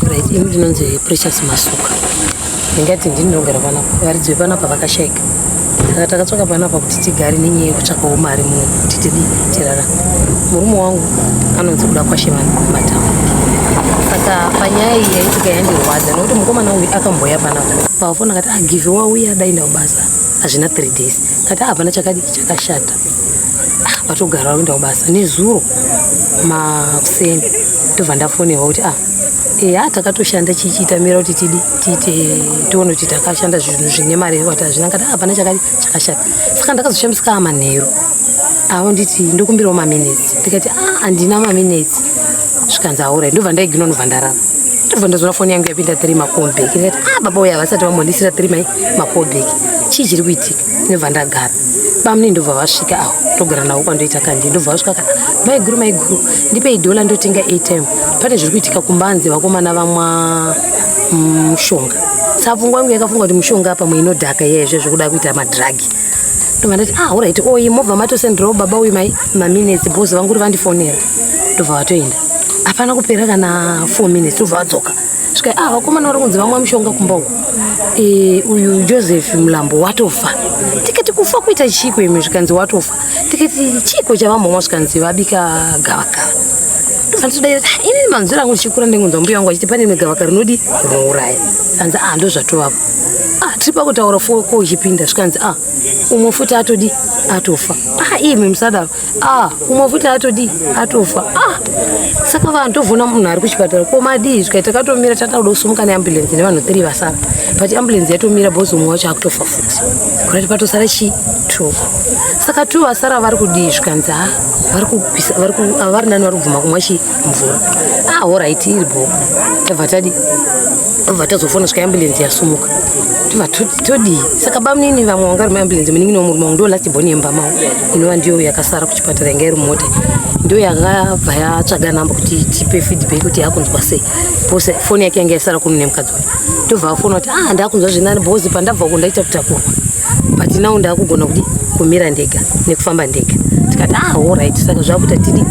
Right, ini ndinonzi Precious Masuka. Ndingati ndini ndinogara panapa. Varidzi vepanapa vakashaika. Saka takatsvaka panapa kuti tigare nenyaya yekutsvakawo mari muno kuti tidi tirara. Murume wangu anonzi kuda kwashe vanhu matama. Saka panyaya iyi yaitika yandirwadza nokuti mukomana uyu akamboya panapa. Pafona akati ah give wauya dai ndakubasa. Hazvina 3 days. Kati ah, hapana chakadiki chakashata. ah, vatogara vari kuenda kubasa nezuro makuseni ndobva ndafonerwa kuti ah eya takatoshanda chichitamira kuti tidi tiite tione kuti takashanda zvinhu zvine mari here kuti hazvina ngati hapana chakati chakashata saka ndakazoshamisika amanheru avo nditi ndokumbirawo maminetsi ndikati a ah, handina maminetsi zvikanzi aura ndobva ndaigina unobva ndarara ndobva ndazoona foni yangu yapinda three makombeki ndikati a ah, baba uya havasati vambonisira three mai makombeki chii chiri kuitika ndobva ndagara bamune ndobva vasvika awo ndogara navo kwandoita kandi ndobva vasvika kana maiguru maiguru ndipei dhola ndotenga atm pane zviri kuitika kumbanze vakomana vamwa mm, mushonga sapfungwa yangu yakafunga kuti mushonga apa muinodhaka iye izvezvo kuda kuita madhiragi ndobva ndati ah orit oyi mobva matosendirawo baba uyu mai maminetsi bos vanguri vandifonera ndobva vatoenda hapana kupera kana four minutes ndobva vadzoka svika ah vakomana vari kunzi vamwa mushonga kumba uku e, uyu joseph mulambo watofa tikati kufa kuita chiiko imi zvikanzi watofa tikati chiiko chavambomwa zvikanzi vabika gavakava andidaira ah, ini manzwira angu ndichikura ndingonzwa mbuya wangu achiti pane rimwe gavakava rinodi rinouraya anzi ah ndozvatovapo ah tiri pakutaura fo ko uchipinda zvikanzi ah umwe futi atodi atofa ah imi musadaro Ah, umwe futi atodii atofa ah, saka vanhu tovona munhu ari kuchipatara komadii zvikaita katomira tatauda kusumuka neambulensi nevanhu three vasara but ambulensi yatomira bhozi umwe wacho akutofa futi kurati patosara chii two saka two vasara vari kudii zvikanzi ha ah, vari nani vari kubvuma kumwa chii mvura ah horaiti iri bho tabva tadi tabva tazofona svika ambulensi yasumuka tobva todii saka bamunini vamwe vanga ri maambulensi muningi no murume wangu ndo last boni yemba mavo inova ndiyo yakasara kuchipatara yanga iri mota ndo yakabva yatsvaga namba kuti tipe feedback kuti yakunzwa sei pose foni yake yanga yasara kumune mukadzi wayo tobva afona kuti ah ndakunzwa zvinani bhozi pandabva uko ndaita kutakurwa but now ndakugona kuti kumira ndega nekufamba ndega tikati ah alright saka zvakuita tidi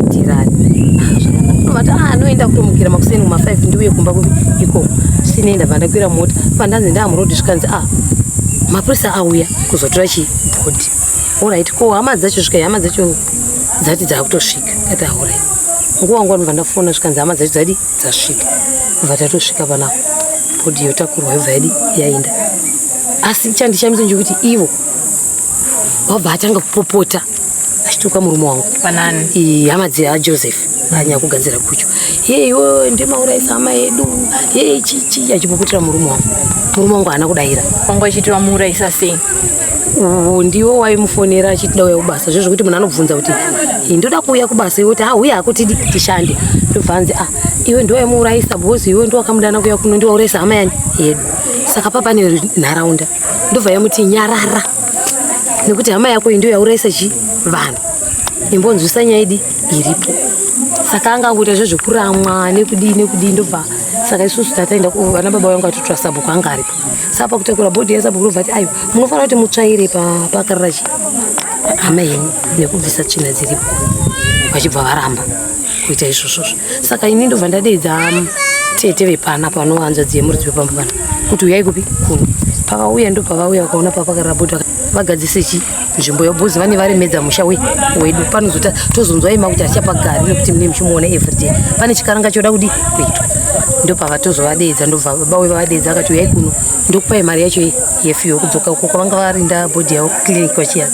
tirani ah, zvakanakuvati ah anoenda kutomukira makuseni kuma 5 ndiuye kumba ikoko sinoenda vandakwira mota pandanzi ndaamurodi zvikanzi ah mapurisa auya kuzotora chibhodhi alright ko hama dzacho svika hama dzacho dzati dzakutosvika kati alright nguva nguva ndobva ndafona zvikanzi hama dzacho dzadi dzasvika bva tatosvika pana bhodhi yotakurwa yobva yadi yaenda asi chandishamisa ndechekuti ivo vabva atanga kupopota achituka murume wangu panani hama dzajoseph anyaya kugadzira kucho yeyo ndimauraisa hama yedu yei chichi achipopotera murume wangu murume wangu haana kudaira wangu achiti vamuuraisa sei uhu ndiwo waimufonera achiti dauya kubasa zve zvekuti munhu anobvunza kuti ndoda kuuya kubasa iwe kuti hauya hakutidi tishande ndobva anzi ah iwe ndiwaimuurayisa because iwe ndiwakamudana kuya kuno ndiwaurayisa hama yani yedu saka papane nharaunda ndobva yamuti nyarara nekuti hama yako iyi ndiyo yaurayisa chi vanhu imbonzwisa nyaya idi iripo saka anga angoita zve zvekuramwa nekudii nekudii ndobva saka isusu tataenda vana baba vangu atotora sabhuku anga aripo sapa kutakura bhodhi yasapa kurova ti ayo munofanira kuti mutsvaire pakararachi hama yenyu nekubvisa tsvina dziripo vachibva varamba kuita izvozvozvo saka ini ndobva ndadeedza um, tete vepana panowanza dziye muridzi wepamba pana kuti uyai kupi kuni pavauya ndopavauya vakaona papakarara bhodhi vagadzise chii nzvimbo yobhozi vane varemedza musha wedu panozota tozonzwa ima kuti achafa gari nekuti mune muchimuona everyday pane chikaranga choda kudi kuitwa ndopava tozovadeedza ndobva baba we vavadeedza akati uyai kuno ndokupai mari yacho yefiyo kudzoka uko kwavanga varinda bhodhi yavo clinic vachiya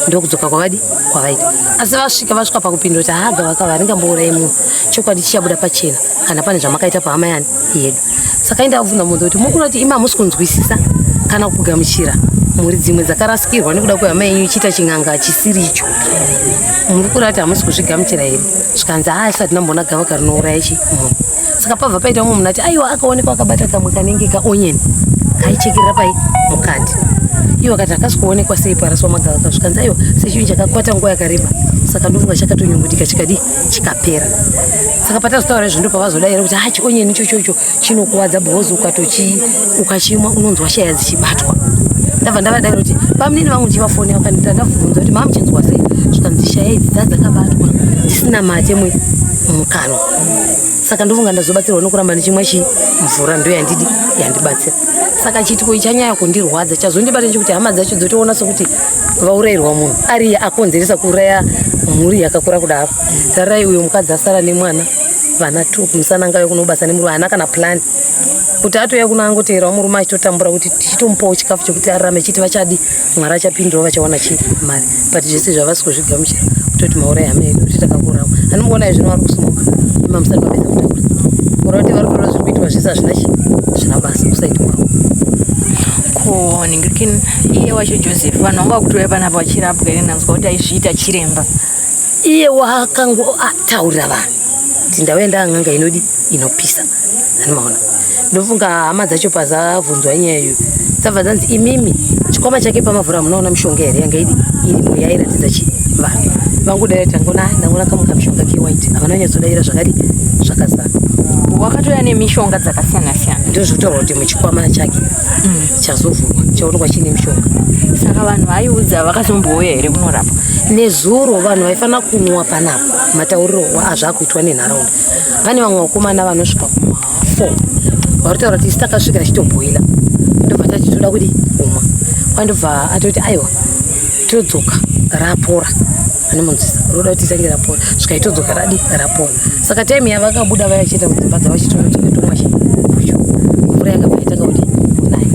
ndokudzoka kwavadi kwavaita asi vasvika vasvika pakupindura kuti haga vakava ringambourayi munhu chokwadi chichabuda pachena kana pane zvamakaita pahama yani yedu saka enda kuvhuna munhu kuti mukuna kuti imi hamusi kunzwisisa kana kugamuchira mhuri dzimwe dzakarasikirwa nekuda kwehama yenyu ichiita chin'anga chisiri icho muri kura kuti hamusi kuzvigamuchira here zvikanzi haa isati namboona gava karinouraya chi munhu saka pabva paita umwe munhu ati aiwa akaonekwa akabata kamwe kanenge kaonyeni kaichekerera pai mukati iyo vakati hakasi kuonekwa sei paraswa magavaka zvikanzi aiwa sechinhu chakakwata nguva yakareba saka ndovunga chakatonyungudika chikadii chikapera saka patazotaura izvo ndo pavazodaira kuti ha chionyeni ichochocho chinokuvadza because ukatochi ukachimwa unonzwa shaya dzichibatwa ndabva ndavadaira kuti pamunini vangu ndichivafoni vakanita ndavhunza kuti mamuchinzwa sei zvikanzi shaya idzi dza dzakabatwa dzisina mate mwe mukanwa saka ndofunga ndazobatsirwa nokuramba ndichimwa chi mvura ndo yandidi yandibatsira saka chiitiko ichanyaya kundirwadza chazondibata nechekuti hama dzacho dzotoona sokuti vaurayirwa munhu ariye akonzeresa kuuraya mhuri yakakura kudaro tararai uyo mukadzi asara nemwana vana two kumusana ngave kunobasa nemurume haana kana plani kuti atouya kuno angoteerawo murume achitotambura kuti tichitomupawo chikafu chekuti ararame chiti vachadi mwari achapindirawo vachawana chi mari but zvese zvavasi kuzvigamuchira kutoti maurai hama yedu kuti takakurao anomuona izvino vari kusmoka imamusati vapedza kutaura kura kuti vari kutora zviri kuitwa zvese hazvina chi zvina basa kusaitwawo Ngirikini iye wacho Joseph vanhu vanga vakutoya panapa vachirapwa here nanzwa kuti aizviita chiremba iye wakango ataurira vanhu kuti ndauya ndaang'anga inodi inopisa animaona ndofunga hama dzacho pazavhunzwa nyaya iyo dzabva dzanzi imimi chikwama chake pamavhura munoona mishonga here yanga idi irimo yairatidza chi vanhu vangodaira tangona ndangona kamuka mishonga kewhite havana nyatsodaira zvakadi zvakazara wakatouya nemishonga dzakasiyana siyana ndozvitaura kuti muchikwama chake mm. chazovhurwa chaonekwa chiine mushonga saka vanhu vaiudza vakazombouya here kunorapa nezuro vanhu vaifanira kunwa panapa matauriro azvakuitwa nenharaunda pane vamwe vakomana vanosvika kuma four varitaura kuti isi takasvika achitobhoila ndobva tati toda kudi kumwa kwandobva atoti aiwa todzoka rapora anomunzwisa unoda kuti itange rapora svika itodzoka radi rapora saka time yavakabuda vaya vachienda kudzimba dzavo chitonotoketomwa chi mvura yanga vaitanga kuti kunaya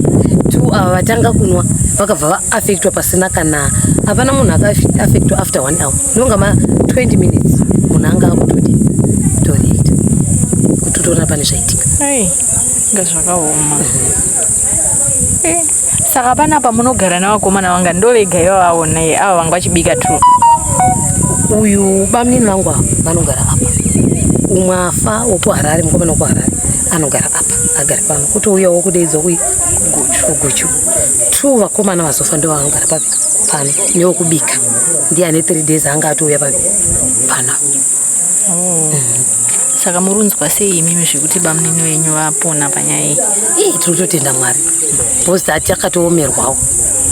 two ava vatanga kunwa vakabva vaaffectwa pasina kana hapana munhu akaaffectwa after one hour ndonga ma 20 minutes munhu anga akutodi toreita kuti utoona pane zvaitika nga zvakaoma mhm. eh. Saka panapa munogara navakomana vanga ndovega ivavaona ye ava vanga vachibika true. Uyu bamnini vangu ava vanogara apa. Umwe afa wokuHarare mukomana wokuHarare anogara apa agari pano kuti uya wokudeidzwa kui kuguchu two vakomana vazofa ndo vaanogara papi pano newokubika ndiye ane three days anga atouya papi pano oh. saka murunzwa sei imimi zvekuti bamnini wenyu vapona panyaya iyi tiri kutotenda mwari bcause tati akatoomerwawo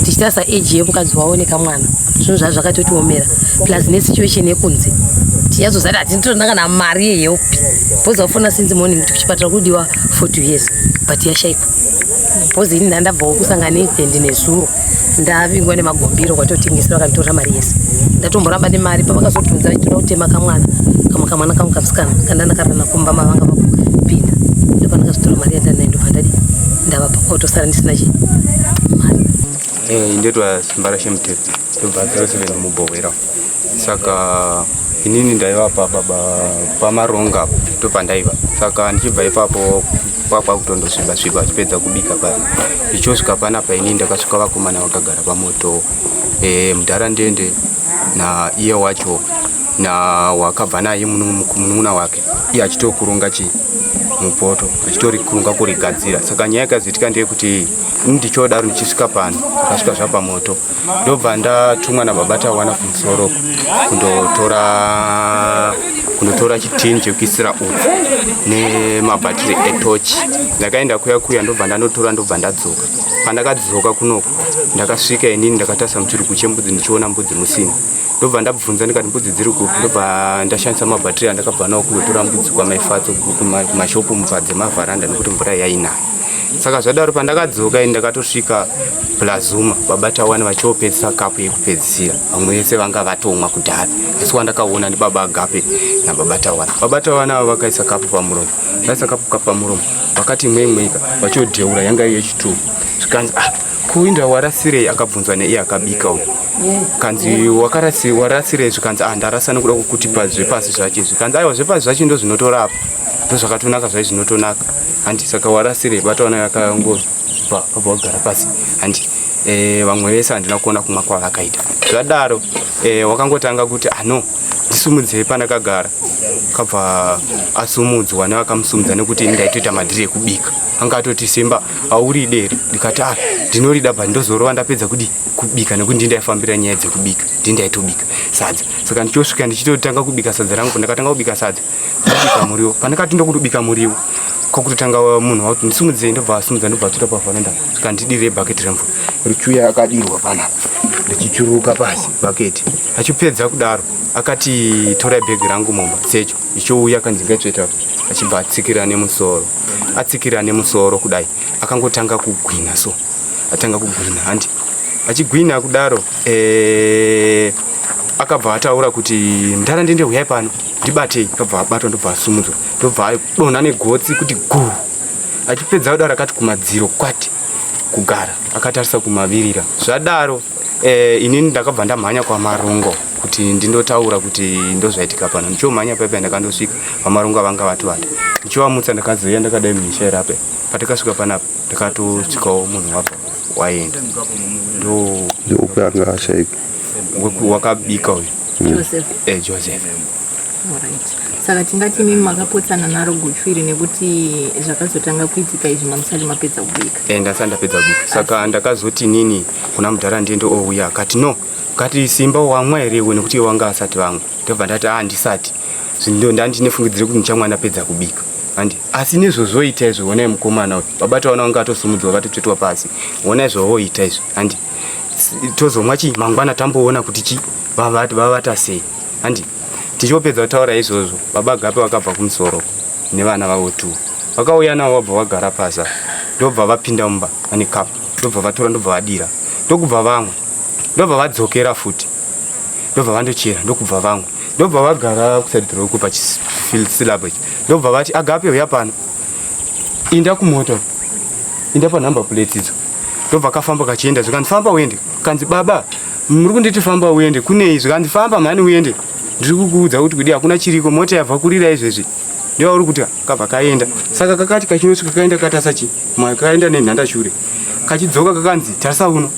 tichitarisa age yemukadzi wavo nekamwana zvinhu zvaa zvakatotiomera plus nesituation yekunze tiyazozati hatitoona kana mari yehelp bcause vafona since morning kuti kuchipatara kudiwa for two years but yashaikwa bcause ini ndandabvawo kusangana event nezuro ndavingwa nemagombiro kwatotengesera vakanditorera mari yese ndatomboramba nemari pavakazodhunza vaitoda kutema kamwana kamwe kamwana kangu kamusikana kanda ndakarana kumba mavanga vakupinda ndopandakazotora mari yandanayo ndopandadi ndava pakotosara ndisina chi mari eh, ndetwa mbara shemutete ndobva 07 mubhohwera saka inini ndaiva paba pamaronga ndopandaiva saka ndichibva ipapo kwakwakutondosviba sviba vachipedza kubika paa ndichosvika panapa inini ndakasvika vakomana vakagara pamoto e, mudhara ndende na iye wacho na wakabva naye munun'una wake iye achitokurunga chii mupoto achitorikurunga kurigadzira saka nyaya yakazoitika ndeyekuti ndichodaro ndichisvika pano akasvika zvapamoto ndobva ndatumwa nababa tawana kumusoro kundotora kundotora chitini chekuisira utsi nemabhatiri etochi ndakaenda kuya kuya ndobva ndanotora ndobva ndadzoka pandakadzoka kunoko ndakasvika inini ndakatasa muchirugu chembudzi ndichiona mbudzi musina ndobva ndabvunza ndikati mbudzi dziri kupi ndobva ndashandisa mabhatiri andakabva nawo kundotora mbudzi kwamaifatso kumashopu mubva dzemavharanda nekuti mvura yainayo saka zvadaro pandakadzoka ini ndakatosvika plazuma baba tawani vachiopedzisa kapu yekupedzisira vamwe vese vanga vatomwa kudhara asi wandakaona ndibaba agape nababa tawani baba tawani avo vakaisa kapu pamuromo vaisa kapu kapu pamuromo vakati mwemweka vachodheura yanga iyo yechituku zvikanzi ah kuinda warasirei akabvunzwa neiye akabika uyu kanzi wakarasi warasirei zvikanzi ah ndarasa nekuda kukutipa zvepasi zvache zvikanzi aiwa zvepasi zvache ndozvinotorapa ndozvakatonaka zvaizvinotonaka handi saka warasirei bata wana yakangobva pabva wagara pasi handi eh, vamwe vese handina kuona kumwa kwavakaita zvadaro eh, wakangotanga kuti ano ah, ndisumudzei pandakagara kabva asumudzwa nevakamusumudza nekuti ndaitoita madhiri ekubika anga atoti simba auri deri ndikati a ah, ndinorida but ndozorova ndapedza kudi kubika nekuti ndindaifambira nyaya dzekubika ndindaitobika sadza saka ndichosvika ndichitotanga kubika sadza rangu ndakatanga kubika sadza ndobika muriwo pandakati ndokutobika muriwo kwakutotanga munhu wakuti ndisimudzei ndobva asumudza ndobva atuta pavhanenda kandidirei bhaketi remvura richuya akadirwa pana ndichichuruka pasi bhaketi achipedza kudaro akati torai bhegi rangu mumba secho ichouya akanzi ngaitsveta achibva atsikira nemusoro atsikira nemusoro kudai akangotanga kugwina so atanga kugwina handi achigwina kudaro ee, akabva ataura kuti mdara ndende huyai pano ndibatei kabva abatwa ndobva asumudzwa ndobva adonha negotsi kuti guu achipedza kudaro akati kumadziro kwati kugara akatarisa kumavirira zvadaro eh, inini ndakabva ndamhanya kwamarungo kuti ndindotaura kuti ndozvaitika pano ndichomhanya paipai ndakandosvika vamarungo avanga vatovata ndichivamutsa ndakazoiya ndakadai mumisha irape patakasvika panapa ndakatosvikawo munhu wabva waenda ndoupe anga ashaika wakabika uyu hmm. joseph eh, joseph saka tingati mimi makapotsana naro guchu iri nekuti zvakazotanga kuitika izvi mamusati mapedza kubika e, eh, ndasati ndapedza kubika saka ndakazoti nini kuna mudhara ndiende ouya akati no kati simba wamwa here iwe nekuti wanga asati vamwe ndobva ndati a ah, ndisati zvindo ndandine fungidzire kuti ndichamwa ndapedza kubika handi asi nezvozvoita izvo honai mukomana uyu vabata vana vanga vatosumudzwa vatotvetwa pasi honai zvovoita izvo handi tozomwa chii mangwana tamboona kuti chi vavata sei handi tichopedza kutaura izvozvo baba gape vakabva kumusoro nevana vavo tu vakauya navo vabva vagara pasa ndobva vapinda mumba vane kapu ndobva vatora ndobva vadira ndokubva vamwe ndobva vadzokera futi ndobva vandochera ndokubva vamwe ndobva vagara kusadhiroku pachisilabo ichi ndobva vati agape uya pano inda kumoto inda panumber plate idzo ndobva kafamba kachienda zvikanzi famba uende kanzi baba muri kunditi famba uende kunei zvikanzi famba mhani uende ndiri kukuudza kuti kudi hakuna chiriko mota yabva kurira izvezvi ndiva uri kuti kabva kaenda saka kakati kachinosvika kaenda katasa chi mwa kaenda nenhanda shure kachidzoka kakanzi tarisa uno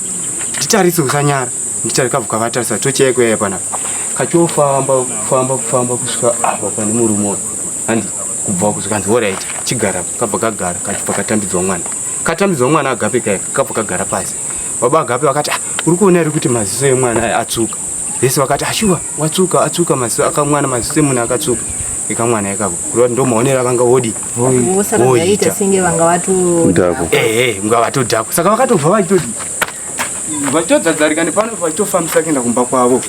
nditarise usanyara nditari kabva kavatarisa tocheko yaya panapa kachofamba kufamba kufamba kusvika apa pane murume handi kubva kuzvikanzi horaiti chigara kabva kagara kachibva katambidzwa mwana Katambidzwa mwana agape kaya kakabva kagara pasi. Baba agape vakati ah, uri kuona iri kuti maziso emwana atsuka. Vese vakati ashuwa ah, watsuka atsuka maziso akamwana maziso emunhu akatsuka. Ikamwana ikako. Kureva ndo maonera vanga wodi. Vosa vakaita senge vanga watu. Ndako. Eh eh, unga watu dako. Saka vakatobva vachitodi. Vachitodzadzarika nepano vachitofambisa kuenda kumba kwavo.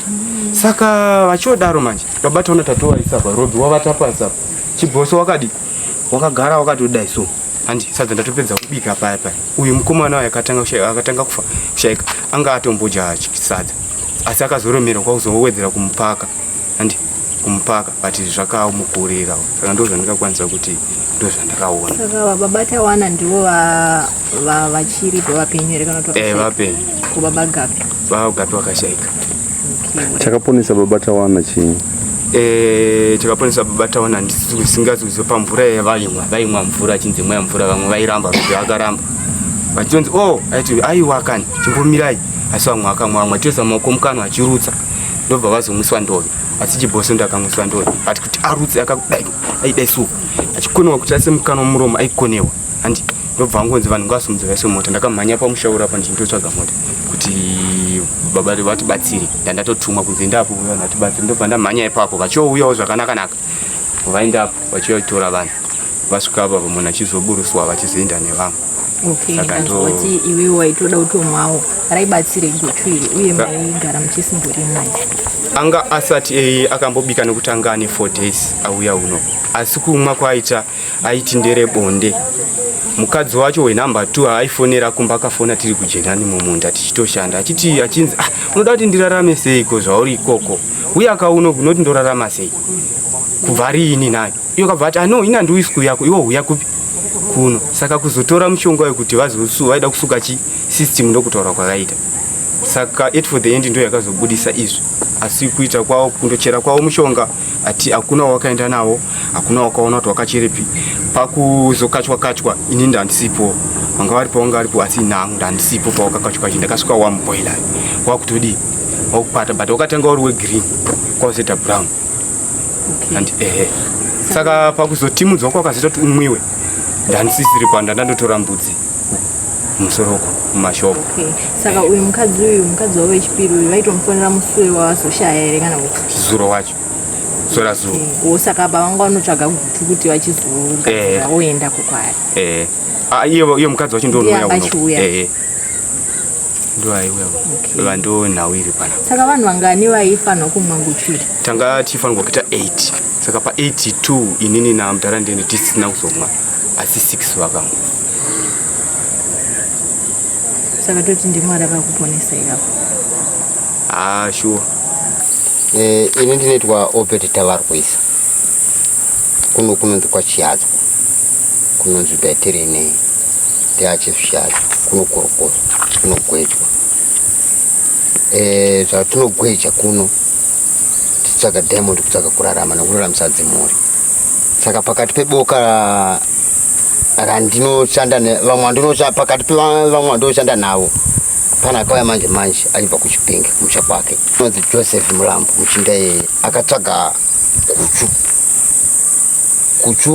Saka vachiodaro manje. Baba tona tatowa isapa. Robi wavata pasapa. Chiboso wakadi. Wakagara wakatodai so. handi sadza ndatopedza kubika paya paya uyu mukomana wayo akatanga kushaika akatanga kufa kushaika anga atombodya sadza asi akazoromera kwakuzowedzera kumupaka handi kumupaka but zvakamukurira saka ndo zvandingakwanisa kuti ndo zvandakaona saka baba batawana ndivo vachiri vapenyu here kana kuti eh, vapenyu ko baba gapi baba gapi vakashaika chakaponesa baba tawana chii Eh, tikaponesa baba taona ndisingazi kuziva pamvura yavaimwa vaimwa mvura achinzi imwa mvura vamwe vairamba kuti akaramba vachionzi o oh, aiti aiwa kani chimbomirai asi vamwe akamwa vamwe achioisa maoko mukanwa achirutsa ndobva vazomwiswa ndove asi chiboso ndakamwiswa ndove ati kuti arutse akakudai aidai suwa achikonewa kuti ase mukanwa muromo aikonewa handi ndobva angonzi vanhu ngavasumudze vaise mota ndakamhanya pamusha uri apa ndichindotsvaga mota kuti baba vatibatsire ndandatotumwa kunzi ndapo uya ndatibatsire ndobva ndamhanya ipapo vachiouyawo zvakanakanaka vaendapo vachiuya kutora vanhu vasvika apa munhu achizoburuswa vachizoenda nevamwe okayati iwewo waitoda kutomwawo raibatsire guchu iri uye maigara muchisimbori mai anga asati eye akambobika nekuti anga ane four days auya uno asi kumwa kwaaita aiti ndere bonde mukadzi wacho wenumber two aifonera kumba akafona tiri kujenani mumunda tichitoshanda achiti achinzi ah, unoda kuti ndirarame seiko zvauri ikoko uye akauno unoti ndorarama sei kubva riini nayo iyo kabva ati ano ah, ina ndiuyi siku yako iwo huya kupi kuno saka kuzotora mushonga wekuti vazosu vaida kusuka chi system ndokutaura kwakaita saka at for the end ndo yakazobudisa izvi asi kuita kwavo kundochera kwavo mushonga ati hakuna wawakaenda nawo hakuna wakaona kuti wakachiripi pakuzokachwa kachwa ini ndandisipo vanga varipo vanga varipo asi nangu ndandisipo pawakakachwa kachi ndakasvika wamuboila wakutodii wakupata but wakatanga uri wegreen kwakuzoita brown okay. and ehe saka pakuzotimudzwa kwakazita kuti umwiwe ndandisisiri panda ndandotora mbudzi musoro uko mumashopu okay. saka uyu mukadzi uyu mukadzi wavo wechipiri uyu vaitomufonera musure wavazoshaya here kana kuti zuro wacho sora zuro okay. o saka apa vanga vanotsvaga gutu kuti vachizogadzira eh. voenda kukwaya eh. ah, iyo mukadzi wacho ndonouyachiuya eh, eh. ndoaiuya okay. vando nhau iri pana saka vanhu vangani vaifanirwa kumwa nguchiri tanga tifanirwa kuita 8 saka pa 82 inini namdara ndene tisina kuzomwa asi six vakamu saka toti ndimwari akakuponesa iyapo haa ah, shuwa eh, ini ndinoitwa obert tavarwisa kuno kunonzi kwachiyadzwa kunonzi betirinei teachizvishadza kunokorokoza kunogwejwa eh, zvatinogweja kuno titsvaga diamond kutsvaga kurarama nekuraramisa dzimhuri saka pakati peboka randinoshanda vamwe andinoshanda pakati pevamwe vandinoshanda navo pana akauya manje manje achibva kuchipinge kumusha kwake anonzi joseph mulambo muchinda iyeye akatsvaga kuchu kuchu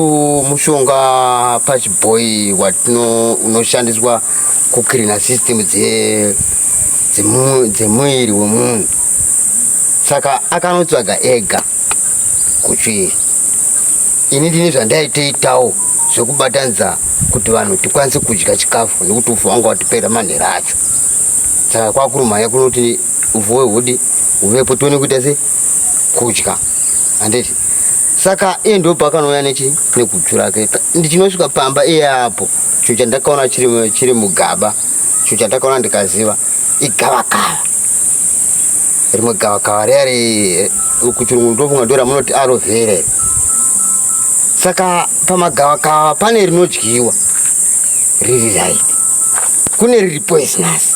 mushonga pachibhoyi watino unoshandiswa kucleana system dzemuviri wemunhu saka akanotsvaga ega kutsvii ini ndine zvandaitoitawo zvekubatanidza kuti vanhu tikwanise kudya chikafu nekuti ufu wangu watipera manhera acho saka kwakurumhanya kunoti ufu wehudi uvepo tione kuita se kudya handiti saka iye ndo pakanouya nechi nekudzvu rake ndichinosvika pamba iye apo chinhu chandakaona chiri mugaba Chinhu chandakaona ndikaziva igavakava. Rimwe gavakava riya ri eh, kuchirungu ndofunga ndora munoti aloe vera iri. Saka pamagavakava pane rinodyiwa riri right. Kune riri poisonous.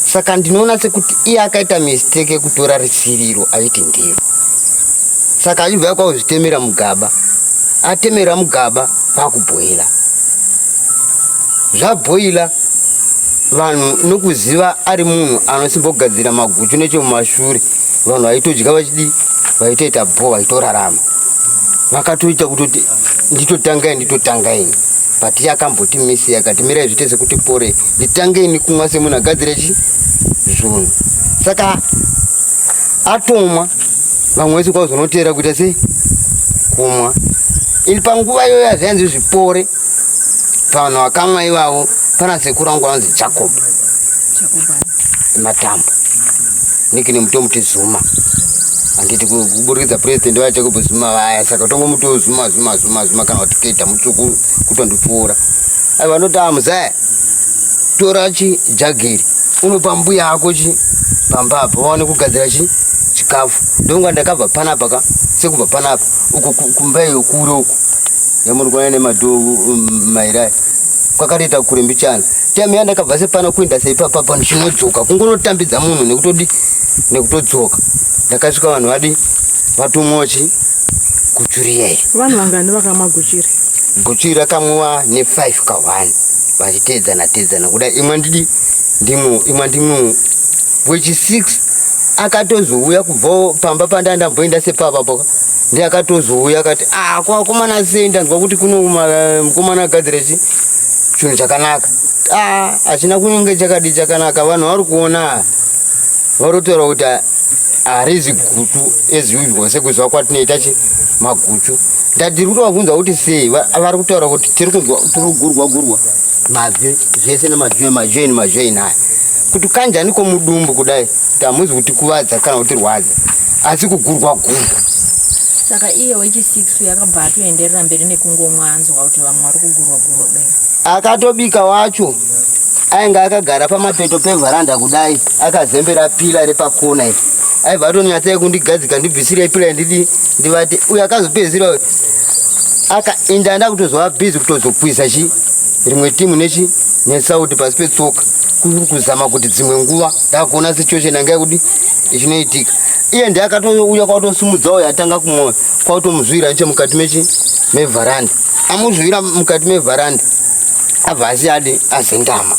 Saka ndinoona sekuti iye akaita mistake yekutora risiriro aiti ndiro. Saka achibva kwakuzvitemera mugaba. Atemera mugaba kwakubhoila. zvabhoila vanhu nokuziva ari munhu anosimbogadzira maguchu nechomumashure vanhu vaitodya vachidii vaitoita bho vaitorarama vakatoita kutoti nditotangai nditotangaini but iye akamboti misi yakati mirai zviite sekuti pore nditangeni kumwa semunhu agadzire chi zvunhu saka atomwa vamwe vese kwauzonoteera kuita sei kumwa ini panguva iyoyo azvainzi zvipore pavanhu vakamwa ivavo pana sekuru angu anonzi jacob matambo niki nemutomuti zuma handiti kuburikidza purezidendi vaya jacob zuma vaya saka tongomuti zuma zuma zuma zuma kana kuti keda mutsvuku kutondipfuura ai vanoti amuzaya tora chi jagiri unopa mbuya ako chi pamba apa vaone kugadzira chi chikafu ndonga ndakabva panapa ka sekubva panapa uko kumba iyo kure uko yamuri kuona nemadhoo um, mairai kwakatoita kure mbichana time ya ndakabva sepana kuenda seipapa pano chinodzoka kungonotambidza munhu nekutodi nekutodzoka ndakasvika vanhu vadi vatomochi guchuriyei vanhu vangani vakamwa guchiri guchiri rakamwiwa nefive kahwani vachiteedzana teedzana kuda imwe ndidi ndimwe imwe ndimwe wechisiks akatozouya kubvawo pamba pandandamboenda sepapa poka ndiye akatozouya akati ah kwa komana sei ndanzwa kuti kuno mukomana agadzira chi chinhu chakanaka ah achina kunenge chakadi chakanaka vanhu vari kuona varotaura kuti harizi gutu as usual sekuzwa kwatinoita chi maguchu ndatiri kuti vabvunza kuti sei vari kutaura kuti tiri kunzwa tiri kugurwa gurwa mazwi zvese nemazwi emazwi eni mazwi eni aya kuti kanjani komudumbu kudai Hamuzi kutikuvadza kana kutirwadza asi kugurwa gurwa. Saka iye wechisiks yakabva atoenderera mberi nekungomwa anzwa kuti vamwe vari kugurwa gurwa kudai. Akatobika wacho ainge akagara pamapeto pevharanda kudai akazembera pila repakona iri aibva atonyatsayi kundigadzika ndibvisire pila ndidi ndivate uyo akazopedzisira uyo akainda ndakutozova bhizi kutozokwiza chi rimwe timu nechi nesauti pasi petsoka kuri kuzama kuti dzimwe nguva ndakuona situation yanga yekudi ichinoitika iye ndiye akatouya kwautosimudzawo yatanga kumwoyo kwautomuzvira neche mukati mechi mevharanda amuzvira mukati mevharanda abva asi adi azendama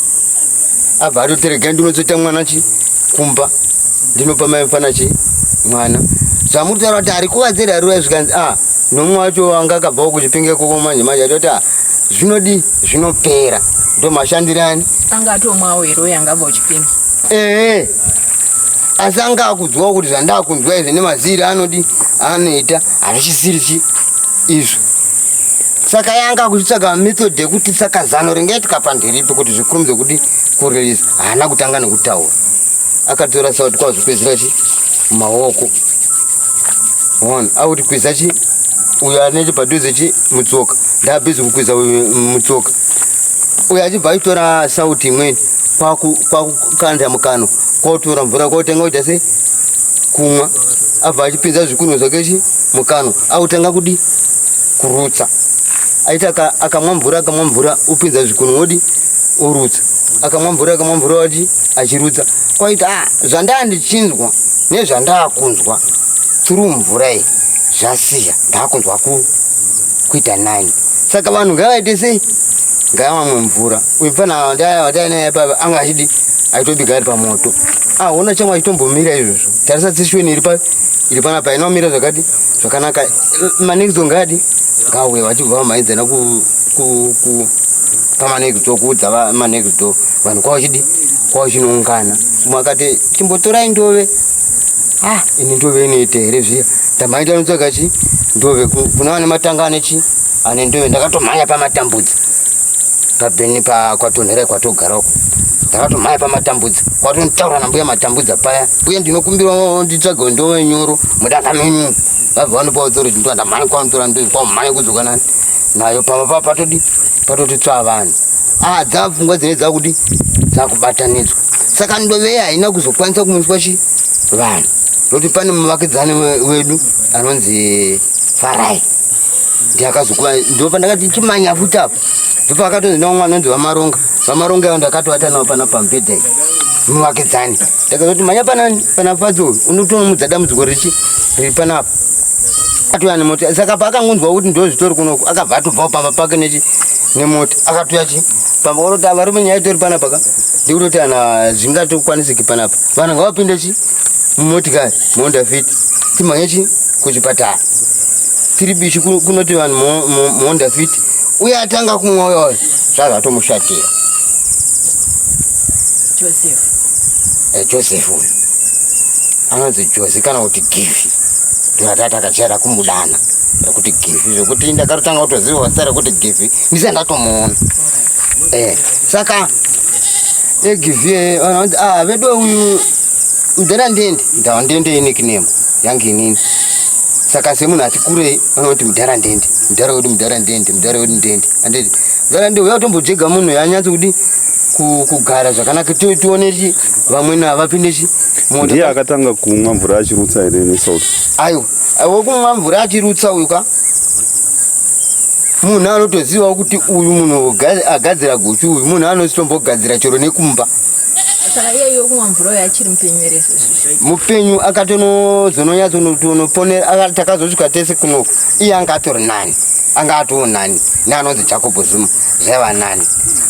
abva atoteregai ndinozoita mwana chi kumba ndinopa mai mfana chi mwana zvamuri taura kuti ari kuvadzera ariwa zvikanzi a ah, nomwe wacho anga akabvawo kuchipinge koko manje manje atoti a ah, zvinodii zvinopera ndo mashandirani anga atomwawo here uyo angabva uchipinda ee asi anga akudzwawo kuti zvandakunzwa izvi nemaziri anodi anoita hazvisisirichi izvo saka yanga kuchitsvaga method yekuti saka zano ringaitika pandiripi kuti zvikurumidze kuti kurelease haana kutanga nekutaura akatora sauti kwavo zvikwezira chi maoko one auti kweza chi uyo anete padhuze chi mutsoka ndabhizi kukwidza mutsoka uyo achibva aitora sauti imweni kwakukanda mukano kwakutora mvura kwakutenga kuita se kumwa abva achipinza zvikunwe zvake chi mukano akutanga kudi kurutsa aiti akamwa mvura akamwa mvura upinza zvikunwe wodi orutsa akamwa mvura akamwa mvura wati achirutsa kwaiti a ah, zvandaa ndichinzwa nezvandaa kunzwa turu mvura iyi zvasiya ndaakunzwa ku kuita nani saka vanhu ngavaite sei ngavamwe mvura uyu mfana watainaye pava anga achidi aitobika ari pamoto ahona chamwe achitombomira izvozvo tarisa tsishweni iri pa iri pana pa inomira zvakati zvakanaka manekidzo ngadi ngauye vachibva vamhaidzana pamanekidzo kuudza manekidzo vanhu kwavachidi kwavachinoungana mwakati chimbotorai ndove ah ini ndove inoita here zviya ndamhanya tanotsvaga chi ndove kuna vane matanga ane chi ane ndove ndakatomhanya pamatambudzi pabheni pakwatonhera kwatogara uko ndakatomhanya pamatambudzi kwatonitaura nambuya matambudza paya uye ndinokumbirwa nditsvage ndove nyoro mudanga menyu vabva vanopawo tsoro chindiwa ndamhanya kwanotora ndove kwamhanya kudzoka nani nayo pamba pa patodi patoti tswa vanhu ah dzapfungwa dzine dzakuti dzakubatanidzwa saka ndove haina kuzokwanisa kumuswa chi vanhu noti pane muvakidzani wedu anonzi farai ndiakazokuva ndopa ndakati chimanya futi apo ndopa akatonzi nomwe anonzi vamaronga vamaronga avo ndakatovata navo pana pamubhedha iyi muvakidzani ndakazoti manya panani pana fadzo unotomudza dambudziko richi riri panapa atouya nemota saka paakangonzwa kuti ndozvitori kunoku akabva atobvawo pamba pake nechi nemota akatouya chi pamba vanoti varume nyaya itori panapa ka ndikutoti ana zvingatokwanisiki panapa vanhu ngavapinde chi mumotikari muhonda fiti timhanye chi kuchipatara tiri bishi kunoti vanhu muhonda fiti uye atanga kumwa uya uya zvazvatomushatira joseph eh, joseph uyu anonzi josi kana kuti givi ndonatata kachera kumudana rekuti givi zvekuti ndakatotanga kutoziva vasa rekuti givi ndise ndatomuona eh, saka egivi vanoti ah, vedu uyu mudhara ndende ndava ndende inekinemo yange inini saka semunhu ati kurei vanoti mudhara ndende mudhara wedu mudhara ndende mudhara wedu ndende anditi mudhara ndende uya kutombojega munhu yanyatsi kuti kugara zvakanaka tione chi vamwene havapinde chi ndiye akatanga kumwa mvura achirutsa here nesalt aiwa Wekumwa mvura achirutsa uyu ka munhu anotozivawo kuti uyu munhu agadzira guchu uyu munhu anozitombogadzira chero nekumba mupenyu akatonozononyatsonoponera takazosvika tese kunoku iye anga atori nani anga atoo nani neanonzi jacob zuma zvaiva nani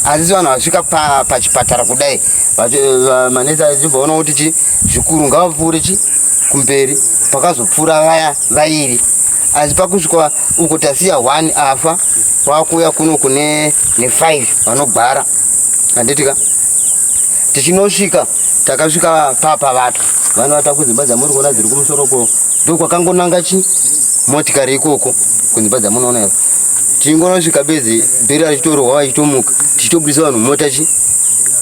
asi vanhu vasvika pachipatara kudai manetsa achibvaona kuti chi zvikuru ngavapfuure chi kumberi pakazopfuura vaya vairi asi pakusvika uko tasiya one afa wakuuya kuno kune nefive vanogwara handitika tichinosvika takasvika papa vatu vanovata kudzimba dzamuri kuona dziri kumusoro ko ndokwakangonanga chi motikari ikoko kunzimba dzamunoona ivo tingonosvika bedzi bheri rachitorohwa vachitomuka tichitobudisa vanhu mota chi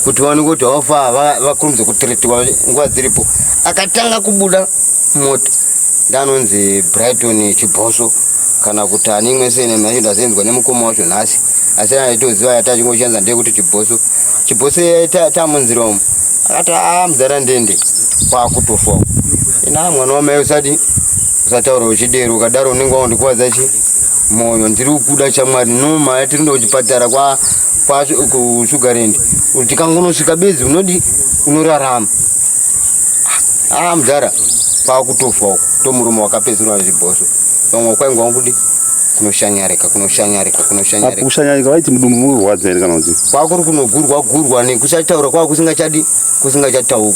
kuti vaone kuti haufa vakurumidze kutiritiwa nguva dziripo akatanga kubuda moto ndanonzi brighton chibhoso kana kuti ani imwe sene manje ndazenzwa nemukoma wacho nhasi asi aitoziva yati achingoshanza ndeyekuti chibhoso chibhoso tamunzira umu akati a ah, mudhara ndende kwakutofa ina mwana wamai usadi usataura uchidero ukadaro unenge waundikwadza chi moyo ndiri kukuda chamwari noma yatiri ndokuchipatara kwa kusugarland kuti tikangonosvika bedzi unodi unorarama aa ah, mudhara kwakutofa uko tomurume wakapedzerwa zvibhosvo vamwe kwainga wakuti kunoshanyarika kunoshanyarika kunoshanyarika kushanyarika vaiti mudumbu mukurwadza here kana kuti kwakuri kunogurwa gurwa nekusataura kwava kusingachadi kusingachataukwa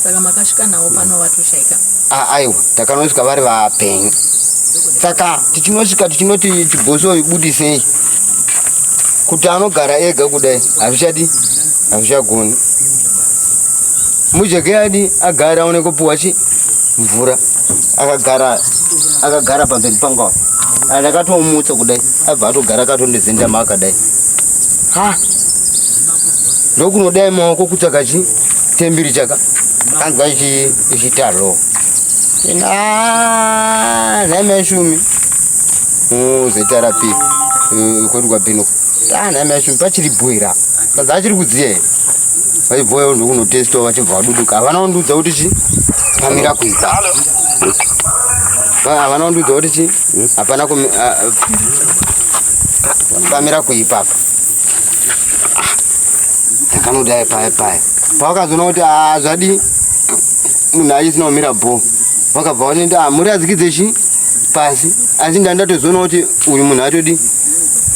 saka makasvika navo pano vatoshaika ah, aiwa takanosvika vari vapenyu saka tichinosvika tichinoti chibhosoi budisei kuti anogara ega kudai hazvichadi hazvichagoni mujeke adi agara aone kupuwa chi mvura akagara akagara pamberi pangu apa andakatomutsa kudai abva atogara akatondivhindama akadai ha ndokunodai maoko kutsvaka chi tembiri chaka anzwa ichitaroo ina nhaimeshumi zvaita rapi eh, kwedu kwabhino ana ah, mai shumbi pachiri bhoira sadza achiri kudziya here vaibhoya ndokunotestwa vachibva vaduduka havana kundiudza kuti chi pamira kuita havana kundiudza kuti chi hapana pamira kuipapa ndakanodai paya paya pavakazoona kuti ah, zvadii munhu aisina kumira bho vakabva vanenda ah, muri adzikidze chii pasi asi ndandatozoona kuti uyu munhu atodi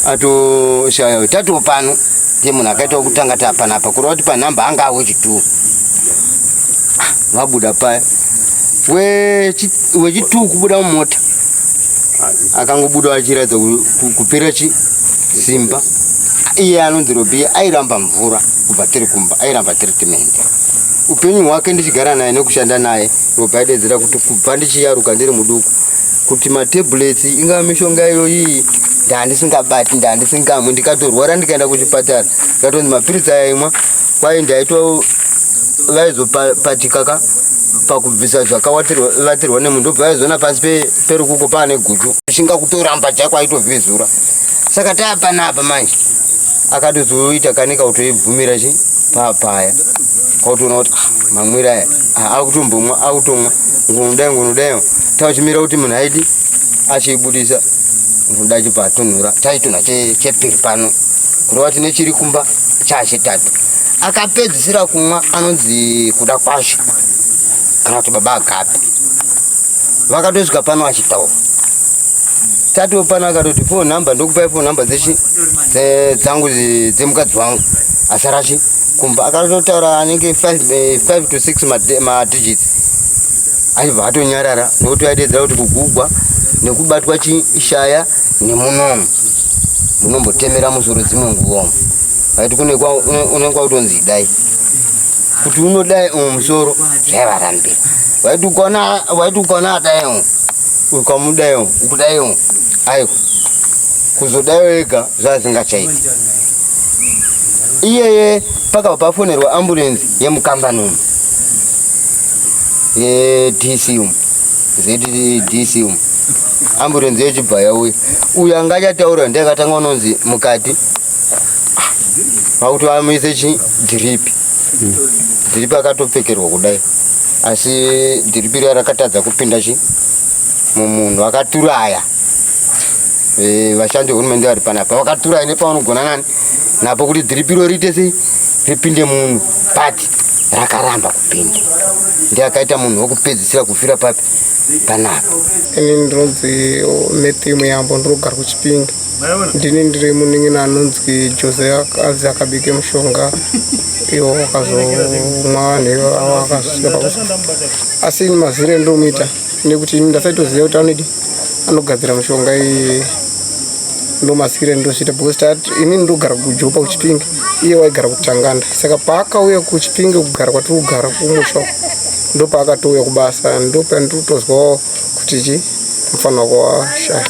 atoshaya tatiwo pano ndiye munhu akaitawo kutanga tapanapa kureva kuti panhamba anga awo chituwo ah, vabuda paya wechituu kubuda mumota akangobuda achiratidza kupera chi simba iye anonzi robiya airamba mvura kubva tiri kumba airamba treatment upenyu hwake ndichigara naye nekushanda naye ndobva adedzera kuti kubva ndichiyaruka ndiri muduku kuti matablets ingava mishonga iyoyi ndaandisingabati ndaandisingamwi ndikatorwara ndikaenda kuchipatara ndikatonzi mapiritsi aya imwa kwaye ndaito vaizopatika ka pakubvisa zvakavatirwa nemunhu ndobva vaizoona pasi perukuko paane guchu chinga kutoramba chako aitovhizura saka taapanapa manje akatozoita kanika kutoibvumira chi papaya kwautoona kuti ah, mamwira aya ah, akutombomwa akutomwa ngunudai ngunudai tauchimira kuti munhu aiti achiibudisa ngunudai chibva atunhura chaitunha chepiri pano kureva tine chiri kumba chachitatu akapedzisira kumwa anonzi kuda kwasho kana kuti baba agapi vakatosvika pano achitaura tatiwo pano akatoti fo number ndokupai fo number dzangu dzemukadzi wangu asarachi kumva akatotaura anenge 5 eh, to 6 madigits aibva atonyarara nokuti aidedzera kuti kugugwa nekubatwa chishaya nemunomu munombotemera musoro dzimwe nguvomo aiti unenge wautonzi idai kuti unodai umwe musoro zvaivarambira waiti ukaona adai umwe ukamudai umwe ukudai umwe aiwa kuzodayo ega zvazingachaiti iyeye pakabva pafonerwa ambulensi yemukambani umu yedc umu zdc umu ambulensi yechibva yauya uyo anga achataura ndiye akatanga unonzi mukati vakuti vamuise chi dhiripi dhiripi akatopfekerwa kudai asi dhiripi riya rakatadza kupinda chi mumunhu akaturaya Eh, vashandi vehurumende vari panapa vakatura ine pavanogona nani napo kuti dhiripiro riite sei ripinde munhu but rakaramba kupinda ndi akaita munhu wokupedzisira kufira papi panapa ini ndinonzi oh, matthew muyambo ndinogara kuchipinge ndini ndiri munin'ini anonzi jose ak- anzi akabike mushonga iwo akazomwa vanhu ivo avo akazosvika pakufa asi ini mazire ndomuita nekuti ini ndasaitoziva kuti anoidi anogadzira mushonga iyi ndomasikira ndosvita because tat ini ndogara kujopa kuchipinge iye waigara kutanganda saka paakauya kuchipinge kugara kwatiri kugara kumusha ndopaakatouya kubasa ndopandotozwawo kuti chi mufanira kuwashaya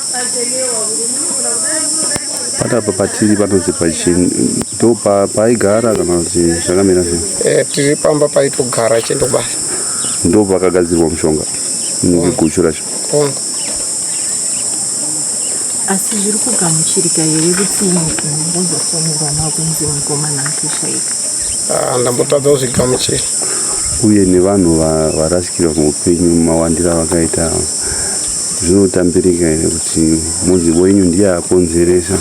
patapa patiri panonzi pachini ndo paaigara kana kuti zvakamira sei eh, tiri pamba paitogara achienda kubasa ndopakagadzirwa mushonga inenge guchu racho asi zviri kugamuchirika here kuti ngozofonera makunzi mukomana akishaika ah, ndambotadza kuzvigamuchira uye nevanhu varasikirwa muupenyu mawandira vakaita zvinotambirika here kuti muzivo yenyu ndiye akonzeresa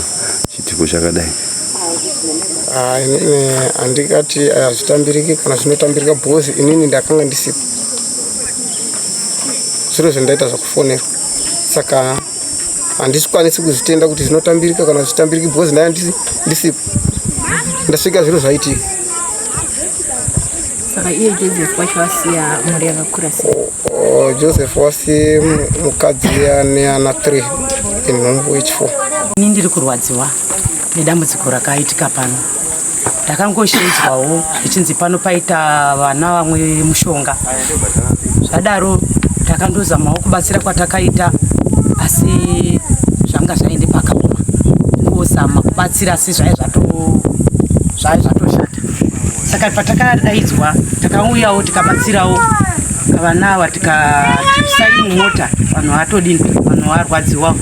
chitiko chakadai Ah, inini handikati eh, hazvitambiriki kana zvinotambirika bhozi inini ndakanga ndisipo zviro zvendaita zvakufonerwa saka handisikwanisi kuzvitenda kuti zvinotambirika kana zvitambiriki bhozi ndaya ndisipo ndasvika zviro zvaitika saka iye joseph wacho wasiya mhuri yakakura sei oh, oh, joseph wasi mukadzi ane ana 3 inhumbu yechifour ini ndiri kurwadziwa nedambudziko rakaitika pano ndakangoshinzwawo ichinzi pano paita vana vamwe mushonga zvadaro takandozamawo kubatsira kwatakaita asi zvanga zvaende pakaoma kungozama kubatsira asi zvai zvai zvatoshata saka patakadaidzwa takauyawo tikabatsirawo vana ava tikasai mumota vanhu vatodini vanhu varwadziwa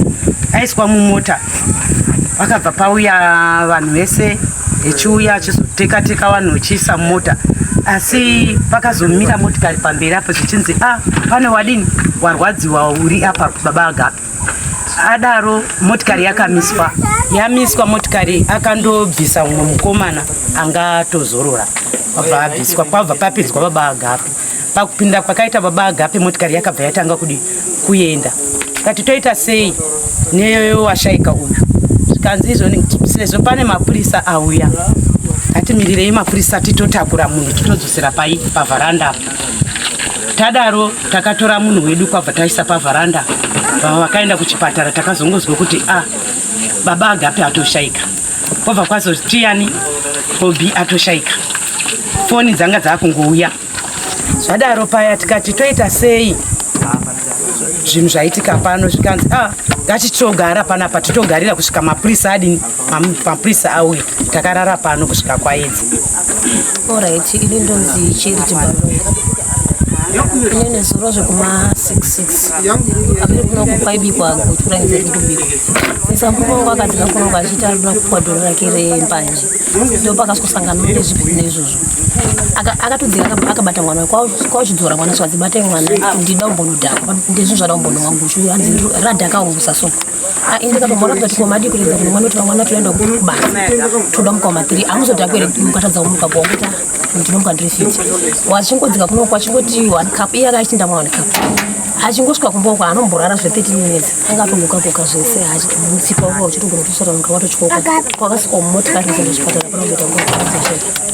aiswa mumota vakabva pauya vanhu vese echiuya achizoteka teka vanhu vechiisa mota asi pakazomira motikari pamberi apo zvichinzi a ah, pane wadini warwadziwa uri apa baba agapi adaro motikari yakamiswa yamiswa motikari akandobvisa umwe mukomana anga atozorora kwabva abviswa kwabva papinzwa baba agapi Pakupinda kwakaita baba Agape motikari yakabva yatanga kudi kuenda. Kati toita sei neyoyo washaika uyu. Zvikanzi izvoni sezvo pane mapurisa auya. Kati mirirei mapurisa titotakura munhu titodzosera pai pavharanda. Tadaro takatora munhu wedu kwabva taisa pavharanda. Vakaenda kuchipatara takazongozwa kuti ah baba Agape atoshaika. Kwabva kwazo Tiyani Bobi atoshaika. Foni dzanga dzakungouya. Zvadaro paya tikati toita sei? Zvinhu zvaitika pano zvikanzi ah ngatitogara panapa titogarira kusvika mapurisa adini mapurisa auya takarara pano kusvika kwaedzi Alright, ini ndonzi Charity Balunga. Ine nezuro zvekuma 66 abiri kuno kupaibikwa kutura nze kutubikwa musambuko wangu akati kakunongo achiita arikuda kupuwa doro rake rembanje ndo pakasosangana mune zvipi neizvozvo akatodzika akabata mwana kwaochidzora mwana swadzi batai mwana ndida umbonodhakwa ndezvinhu zvada umbonowangu hanzi radhaka ungu sasoko Ah, ende kaka mwana kuti koma dii kuridza kuti mwana kuti vamwana toenda kubasa toda mukoma tiri amuzodira kuere mukatadza kumuka kuwakuta ndinomuka ndiri fiti wachingodzika kuno kwachingoti one cup iye akaichinda mwa one cup achingosvika kumba uko anomborara zve 13 minutes anga atongoka koka zvese achimutsipa uko uchitogona kutosara muka watochikoka kwakasvika mumotikari zvinhu zvipatara panozoita ngoaazvee